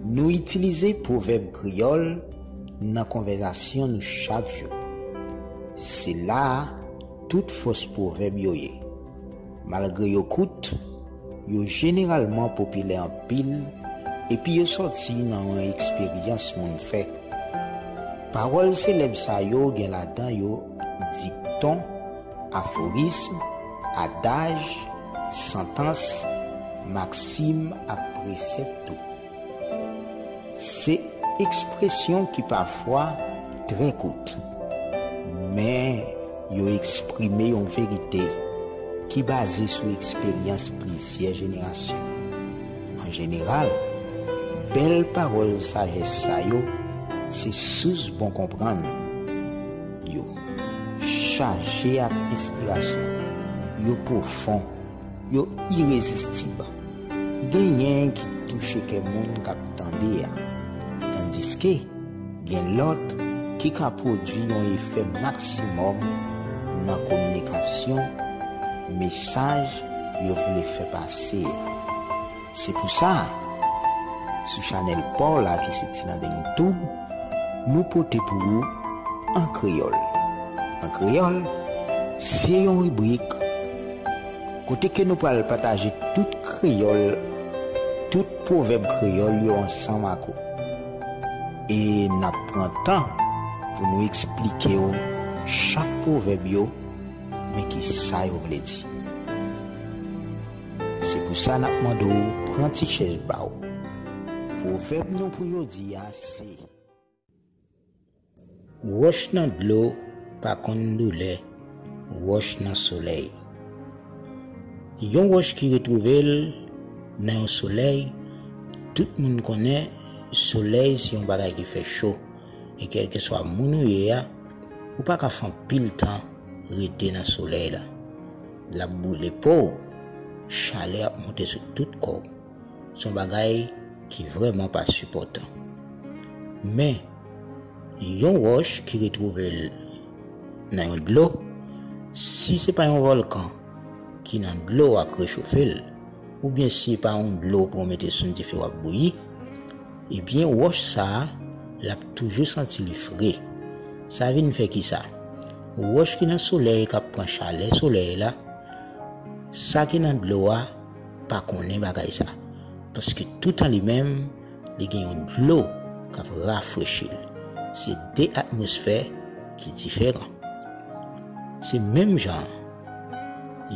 Nou itilize pwovèb kreyòl nan konvèzasyon nou chak jou. Se la a tout fòs pwovèb yo ye. Malgre yo kout, yo jeneralman popilè anpil epi yo sòti nan yon eksperyans moun fè. Pawòl selèb sa yo gen ladan yo dikton, aforism, adaj, santans, maksim ak presèp tou. Se ekspresyon ki pafwa trè kout, men yo eksprime yon verite ki baze sou eksperyans plizyè jenerasyon. An jeneral, bèl pawòl sajès sa yo se sous bon konprann. Yo chaje ak enspirasyon, yo pwofon. Yo irezistib. Genyen ki touche kè moun k ap tande a, tandiske gen lòt ki ka pwodui yon efè maksimòm nan kominikasyon mesaj yo vle fè pase a. Se pou sa, sou chanèl pa w la ki se Tilandeng Tube, nou pote pou ou An Kreyòl. An Kreyòl, se yon ribrik kote ke nou pral pataje tout kreyòl, tout pwovèb kreyòl yo ansanm ak ou. E n ap pran tan pou nou eksplike w chak pwovèb yo, men ki sa yo vle di. Se pou sa n ap mande w pran ti chèz pa w. Pwovèb nou pou jodi a se. Wòch nan dlo pa konn doulè wòch nan solèy. Yon wòch ki retwouve l nan yon solèy, tout moun konnen solèy se yon bagay ki fè cho e kèlkeswa moun ou ye a, ou pa ka fè anpil tan rete nan solèy la. L ap boule po w. Chalè ap monte sou tout kò w. S on bagay ki vrèman pa sipòtan. Men, yon wòch ki retwouve l nan yon dlo, si se pa yon vòlkan ki nan dlo a k rechofe l, oubyen si pa yon dlo pou w mete sou yon dife w ap bouyi, Ebyen wòch sa a, l ap toujou santi li fre. Sa vin fè ki sa? Wòch ki nan solèy k ap pran chalè solèy la, sa ki nan dlo a pa konnen bagay sa. Paske toutan li menm, li gen yon dlo k ap rafrechi l. Se de atmosfè ki diferan. Se menm jan an,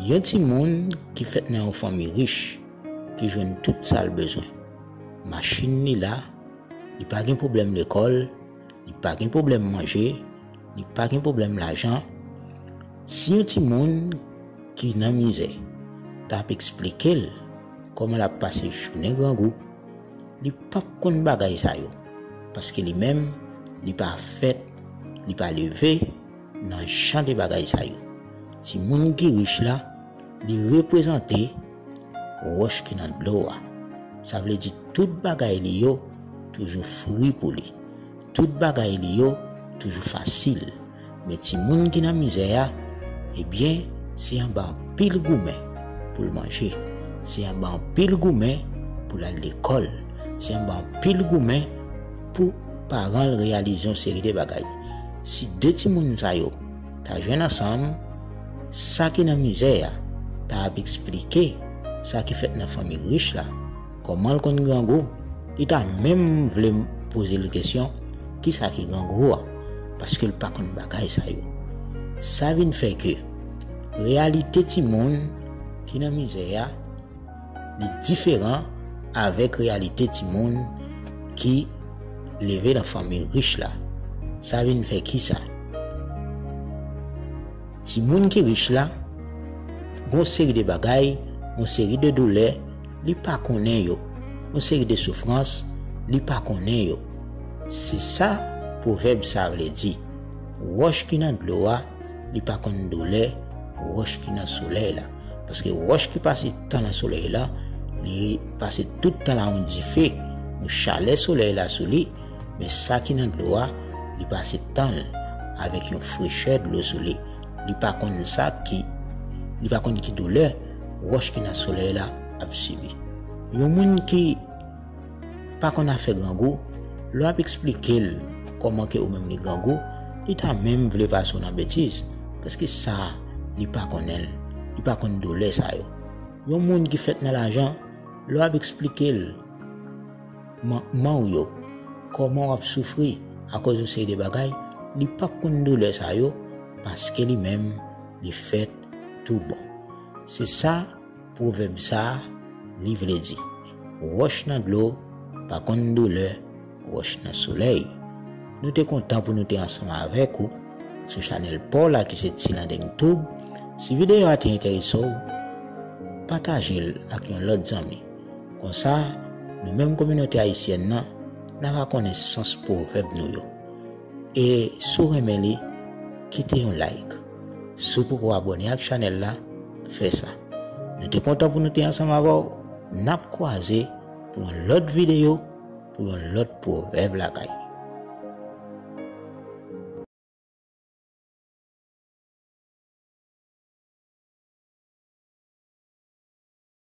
yon timoun ki fèt nan yon fanmi rich, ki jwenn tout sa l bezwen. Machin li la, li pa gen pwoblèm lekòl, li pa gen pwoblèm manje, li pa gen pwoblèm lajan. Si yon timoun ki nan mizè ta ap eksplike l kòman l ap pase jounen grangou, li pap konn bagay sa yo paske li menm li pa fèt, li pa leve nan jan de bagay sa yo. Timoun ki rich la, li reprezante. Wòch ki nan dlo a. Sa vle di tout bagay li yo toujou fri pou li. Tout bagay li yo toujou fasil. Men timoun ki nan mizè a, ebyen, se anba anpil goumen pou l manje. Se anba anpil goumen pou l al lekòl. Se anba anpil goumen pou paran l reyalize yon seri de bagay. Si de timoun sa yo. ta jwenn ansanm, sa ki nan mize a ta ap eksplike sa ki fèt nan fanmi rich la, kòman l konn grangou, li ta menm vle poze l kesyon ki sa ki grangou a, paske l pa konn bagay sa yo. Sa vin fè ke reyalite timoun ki nan mize a. Li diferan avèk reyalite timoun ki leve nan fanmi rich la. Sa vin fè ki sa? Timoun ki rich la gon seri de bagay, gon seri de doulè li pa konnen yo, gon seri de soufrans li pa konnen yo. Se sa pwovèb sa vle di, Wòch ki nan dlo a li pa konn doulè wòch ki nan solèy la. Paske wòch ki pase tan nan solèy la, li pase tout tan la yon dife, yon chalè solèy la sou li, men sa ki nan dlo a, li pase tan l avèk yon frechè dlo sou li. Li pa konn sa ki, li pa konn ki doulè wòch ki nan solèy la ap sibi. Yon moun ki. pa konn afè grangou, lè wap eksplike l kòman ke ou menm li grangou, li ta menm vle pase w nan betiz, paske sa li pa konnen l, li pa konn doulè sa yo. Yon moun ki fèt nan lajan, lè wap eksplike l mankman w yo, kòman wap soufri akòz yon seri de bagay, li pap konn doulè sa yo, paske li menm li fèt tou bon. Se sa. Pwovèb sa li vle di. Wòch nan dlo pa konn doulè wòch nan solèy. Nou te kontan pou nou te ansanm avèk ou sou chanèl paw la ki se Tilandeng tube. Si videyo a te enterese w, pataje l ak yon lòt zanmi. Konsa, nou menm kominote ayisyèn nan, na va konnen sans pwovèb nou yo. E si w renmen li, kite yon like. Si w poko abone ak chanèl la, fè sa. Nou te kontan pou nou te ansanm avè w. Nap kwaze pou yon lòt videyo pou yon lòt pwovèb lakay.